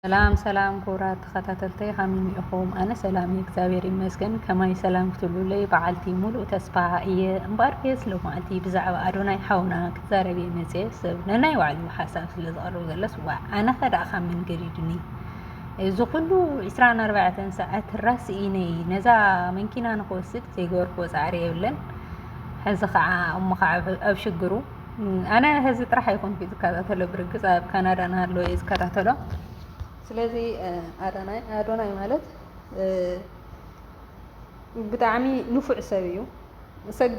ሰላም ሰላም ክቡራት ተኸታተልተይ ከመይ ኢኹም? ኣነ ሰላም እየ እግዚኣብሔር ይመስገን። ከማይ ሰላም ክትብሉለይ በዓልቲ ሙሉእ ተስፋ እየ። እምበኣር ከየስ ሎማዓልቲ ብዛዕባ ኣዶናይ ሓውና ክዛረብ እየ መፅየ። ሰብ ነናይ ባዕሉ ሓሳብ ስለ ዘቕርብ ዘሎስ ዋዕ ኣነ ከ ደኣ ካብ መን ገዲዱኒ እዚ ኩሉ ዕስራን ኣርባዕተን ሰዓት ራስኢነይ ነዛ መንኪና ንክወስድ ዘይገበርክዎ ፃዕሪ የብለን። ሕዚ ከዓ እሞ ከዓ ኣብ ሽግሩ ኣነ ህዚ ጥራሕ ኣይኮንኩ ዝከታተሎ ብርግፅ ኣብ ካናዳ ናሃለወ እየ ዝከታተሎ ስለዚ ኣዶናይ ኣዶናይ ማለት ብጣዕሚ ንፉዕ ሰብ እዩ ሰግ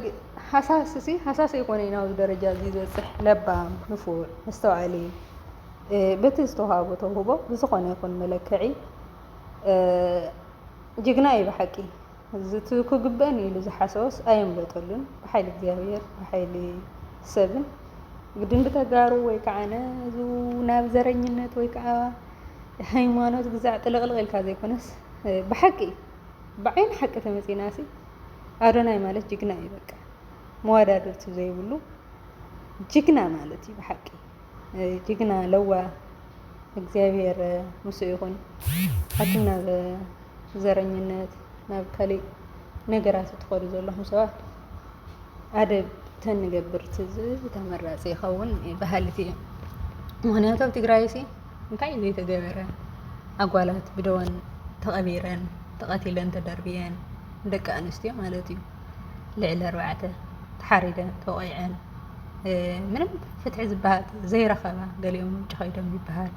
ሃሳስ ሲ ሃሳስ ኣይኮነ ናብዚ ደረጃ እዚ ዝበፅሕ ለባም ንፉዕ መስተውዓሊ በቲ ዝተዋሃቦ ተውህቦ ብዝኾነ ይኹን መለክዒ ጅግና እዩ ብሓቂ እዚ እቲ ክግበእኒ ኢሉ ዝሓሰቦስ ኣየምለጠሉን ብሓይሊ እግዚኣብሔር ብሓይሊ ሰብን ግድን ብተጋሩ ወይ ከዓነ እዚ ናብ ዘረኝነት ወይ ከዓ ሃይማኖት ግዛዕ ጥልቕልቕ ኢልካ ዘይኮነስ ብሓቂ እዩ ብዓይኒ ሓቂ ተመፂና ሲ ኣዶናይ ማለት ጅግና እዩ በቃ መወዳድርቲ ዘይብሉ ጅግና ማለት እዩ ብሓቂ ጅግና ለዋህ እግዚኣብሔር ምስ ይኹን ኣቱም ናብ ዘረኝነት ናብ ካሊእ ነገራት እትኸዱ ዘለኹም ሰባት ኣደብ ተንገብር ትዝ ተመራፂ ይኸውን በሃሊት እየ። ምክንያቱ ኣብ ትግራይ ሲ እንታይ እዩ ዘይተገበረ ኣጓላት ብደወን ተቐቢረን ተቐቲለን ተደርብየን ደቂ ኣንስትዮ ማለት እዩ። ልዕሊ ኣርባዕተ ተሓሪደን ተቆይዐን ምንም ፍትሒ ዝበሃል ዘይረኸባ ገሊኦም ውጭ ከይዶም ይበሃል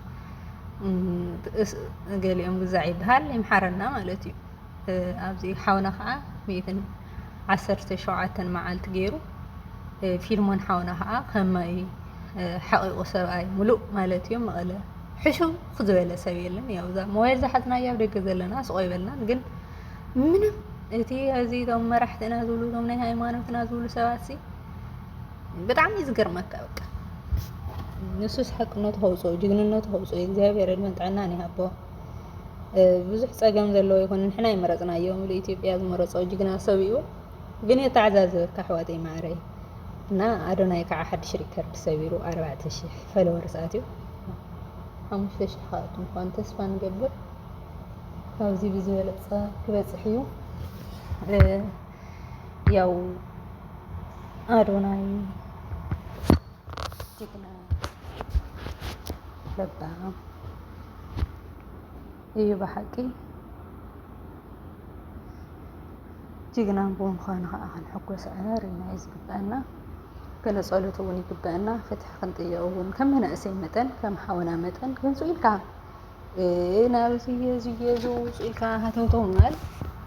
ገሊኦም ግዛዕ ይበሃል ይምሓረና ማለት እዩ ኣብዚ ሓውና ከዓ ሚእትን ዓሰርተ ሸውዓተን መዓልቲ ገይሩ ፊልሞን ሓውና ከዓ ከማይ ሓቂቁ ሰብኣይ ሙሉእ ማለት እዩ መቐለ ሕሹ ዝበለ ሰብ የለን ያው እዛ ሞባይል ዝሓዝናያ ኣብ ደገ ዘለና ስቆይ በልናን ግን ምንም እቲ እዚ እቶም መራሕትና ዝብሉ እቶም ናይ ሃይማኖትና ዝብሉ ሰባት ሲ ብጣዕሚ እዩ ዝገርመካ በቃ ንሱስ ሓቅነቱ ከውፅኦ ጅግንነቱ ከውፅኦ እግዚኣብሔር ዕድመን ጥዕናን ይሃቦ ብዙሕ ፀገም ዘለዎ ይኹን ንሕና ይመረፅናዮ ምሉ ኢትዮጵያ ዝመረፆ ጅግና ሰብ እዩ ግን የተዓዛዝበካ ኣሕዋተይ ማዕረይ እና ኣዶናይ ከዓ ሓድሽ ሪከርድ ሰቢሩ ኣርባዕተ ሽሕ ፈለወርስ ኣትዩ ሓሙሽተ ሽሕ ከኣቱ ምኳኑ ተስፋ ንገብር ካብዚ ብዝበለፀ ክበፅሕ እዩ ያው አዶናይ ጅግና ለባም እዩ ብሓቂ ጅግና ብምዃኑ ከዓ ክንሕጎስ ኣርና እዩ ዝግበአና ገለ ፀሎት እውን ይግበአና ፍትሒ ክንጥየቅ እውን ከም መናእሰይ መጠን ከም ሓውና መጠን ክንሱ ኢልካ ናብዚ እዚ እዚ ውፅ ኢልካ ሃተውተው ምባል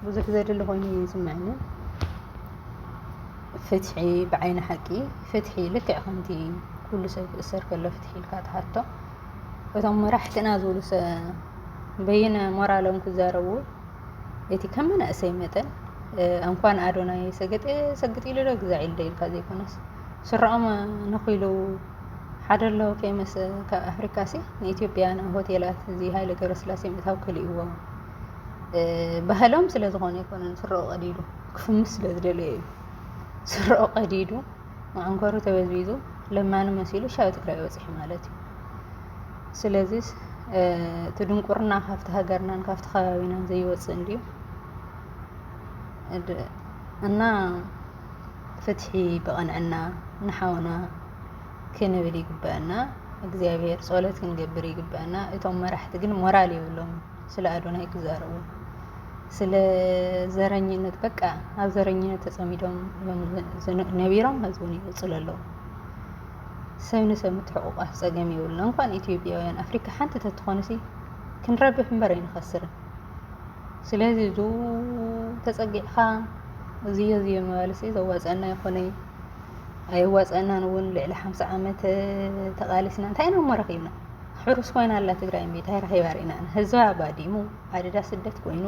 ብዙሕ ዘድሊ ኮይኑ እዩ ዝስምዐኒ ፍትሒ ብዓይኒ ሓቂ ፍትሒ ልክዕ ከምቲ ኩሉ ሰብ ክእሰር ከሎ ፍትሒ ኢልካ ትሓቶ እቶም መራሕትና ዝብሉ በይነ ሞራሎም ክዛረቡ እቲ ከም መናእሰይ መጠን እንኳን ኣዶናይ ሰገጤ ሰግጢ ኢሉ ዶ ግዛዕ ኢሉ ዶ ኢልካ ዘይኮነስ ስረኦም ነኺሉ ሓደ ኣለዎ ፌመስ ካብ ኣፍሪካ ሲ ንኢትዮጵያ ናብ ሆቴላት እዚ ሃይለ ገብረስላሴ ምእታው ከሊእዎ ባህሎም ስለ ዝኾነ ኣይኮነን ስረኦ ቀዲዱ ክፍምስ ስለ ዝደለየ እዩ ስረኦ ቀዲዱ መዓንኮሩ ተበዝቢዙ ለማኒ መሲሉ ሻብ ትግራይ ወፂሑ ማለት እዩ ስለዚ እቲ ድንቁርና ካብቲ ሃገርናን ካብቲ ከባቢናን ዘይወፅእ እንድዩ እና ፍትሒ ብቅንዕና ንሓውና ክንብል ይግበኣና እግዚኣብሔር ጸሎት ክንገብር ይግበኣና እቶም መራሕቲ ግን ሞራል የብሎም ስለ ኣዶናይ ክዛረቡ ስለ ዘረኝነት በቃ ኣብ ዘረኝነት ተጸሚዶም ነቢሮም ህዝቡን ይቅጽሉ ኣለዉ ሰብ ንሰብ ምትሕቁቋፍ ጸገም የብሉና እንኳን ኢትዮጵያውያን ኣፍሪካ ሓንቲ ተትኾንሲ ክንረብሕ እምበር ኣይንኸስርን ስለዚ እዙ ተጸጊዕኻ እዙዮ እዙዮ ምባልሲ ዘዋጸአና ይኾነይ ኣይዋጸአናን እውን ልዕሊ ሓምሳ ዓመት ተቓሊስና እንታይ ኢና እሞ ረኺብና ሕሩስ ኮይና ኣላ ትግራይ እምቢ እንታይ ረኺባ ርኢና ህዝባ ባዲሙ ኣደዳ ስደት ኮይኑ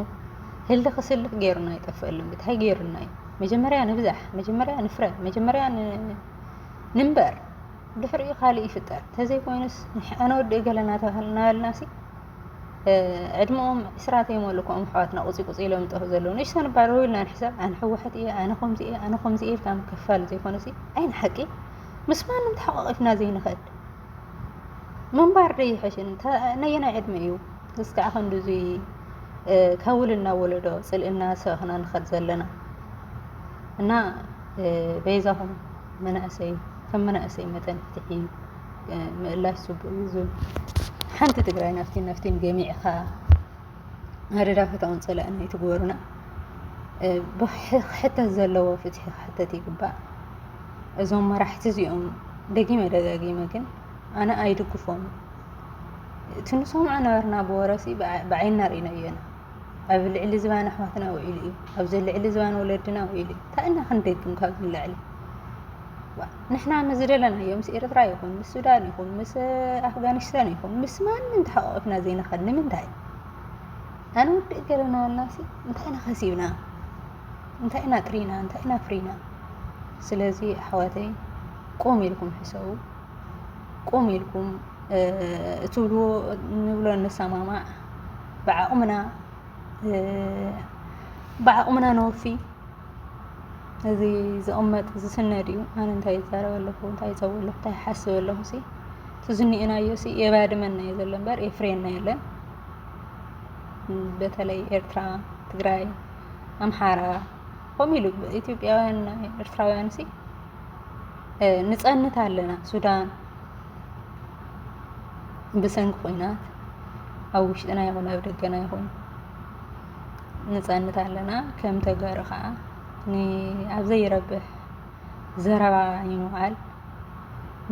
ህሊ ክስልፍ ገይሩና ይጠፍአልን ብታይ ገይሩና እዩ መጀመርያ ንብዛሕ መጀመርያ ንፍረ መጀመርያ ንንበር ድሕሪኡ ካልእ ይፍጠር ተዘይኮይኑስ ኣነ ወዲ ገለና ተባህልና በልናሲ ዕድመኦም ዕስራ ዘይመሉ ከምኦም ኣሕዋትና ቁፂ ቁፂ ኢሎም ዝጠፍኡ ዘለዉ ንእሽቶ ንባረሩ ኢልና ንሕሰብ ኣነ ህወሓት እየ ኣነ ከምዚ እየ ኣነ ከምዚ እየ ኢልካ ምክፍፋል ዘይኮነሲ ዓይን ሓቂ ምስ ማንም ተሓቋቒፍና ዘይንኽእል ምንባር ዶ ይሕሽን ነየናይ ዕድመ እዩ እስካዕ ክንዲ እዙ ካብ ውልና ወለዶ ፅልእና ሰብኽና ንኸድ ዘለና እና በይዛኹም መናእሰይ ከም መናእሰይ መጠን ፍትሒ እዩ ምእላሽ ጽቡቅ እዩ ዝብል ሓንቲ ትግራይ ናፍቲን ናፍቲን ገሚዕኻ መደዳፈታውን ጸላእን ኣይትግበሩና ክሕተት ዘለዎ ፍትሒ ክሕተት ይግባእ እዞም መራሕቲ እዚኦም ደጊመ ደጋጊመ ግን ኣነ ኣይድግፎም እቲ ንሰምዖ ነበርና ብወረሲ ብዓይና ርኢና እየና ኣብ ልዕሊ ዝባን ኣሕዋትና ውዒሉ እዩ ኣብዚ ልዕሊ ዝባን ወለድና ውዒሉ እዩ እንታይ ኢና ክንደግም ካብዚ ንላዕሊ ንሕና ምስ ዝደለናዮ ምስ ኤርትራ ይኹን ምስ ሱዳን ይኹን ምስ ኣፍጋኒስታን ይኹን ምስ ማንም ተሓቋቂፍና ዘይንኸድ ንምንታይ ኣነ ውድእ ገለና ኣናሲ እንታይ ኢና ከሲብና እንታይ ኢና ጥሪና እንታይ ኢና ፍሪና ስለዚ ኣሕዋተይ ቁም ኢልኩም ሕሰቡ ቁም ኢልኩም እትብልዎ ንብሎ ንሰማማዕ ብዓቕምና ብዓቕምና ነወፊ እዚ ዝቕመጥ ዝስነድ እዩ ኣነ እንታይ ይዛረብ ኣለኹ እንታይ ይፀው ኣለኹ እንታይ ይሓስብ ኣለኹ ሲ እቲ ዝኒኤናዮ ሲ የባድመና እዩ ዘሎ እምበር የፍርየና የለን በተለይ ኤርትራ ትግራይ ኣምሓራ ከምኡ ኢሉ ኢትዮጵያውያን ኤርትራውያን ሲ ንፀንት ኣለና ሱዳን ብሰንኪ ኩናት ኣብ ውሽጥና ይኹን ኣብ ደገና ይኹን ንጸንት ኣለና ከም ተጋሩ ከዓ ኣብ ዘይረብሕ ዘረባ ይንውዓል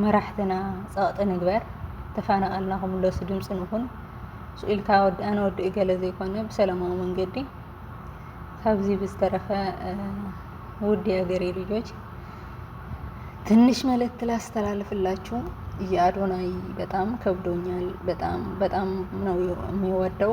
መራሕትና ጸቕጢ ንግበር ተፋናቐልና ክምለሱ ድምፂ ንኹን ኢልካ ኣነ ወዲ እገለ ዘይኮነ ብሰላማዊ መንገዲ ካብዚ ብዝተረፈ ውድ የሀገሬ ልጆች ትንሽ መልእክት ላስተላልፍላችሁ የአዶናይ በጣም ከብዶኛል በጣም በጣም ነው የሚወደው